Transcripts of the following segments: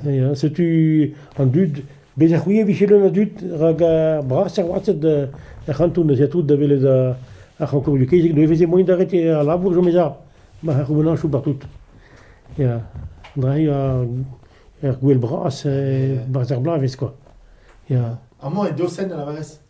Ya, setu an dud. Bez' ha c'hwi e vije leun a dud rak ar brasañ wazed er c'hanton ez ya tout da welet ar c'hankourioù kezeg. Ne veze moain d'arrêter al labour, jomez ar c'houvenañchoù partout. Ya, dre ur gouel bras, barzh ar bloavezh, quoi. Ya. Amañ e Dosen, a lavarez?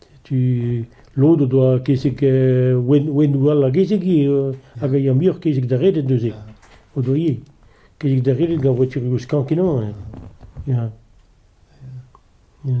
Setu lod o doa kezeg ouennoù all a gezeg ivez hag a ya muioc'h kezeg da reded neuze. O doa ivez kezeg da reded gant voaturioù skañv-kenañ ya. Ya. Ya.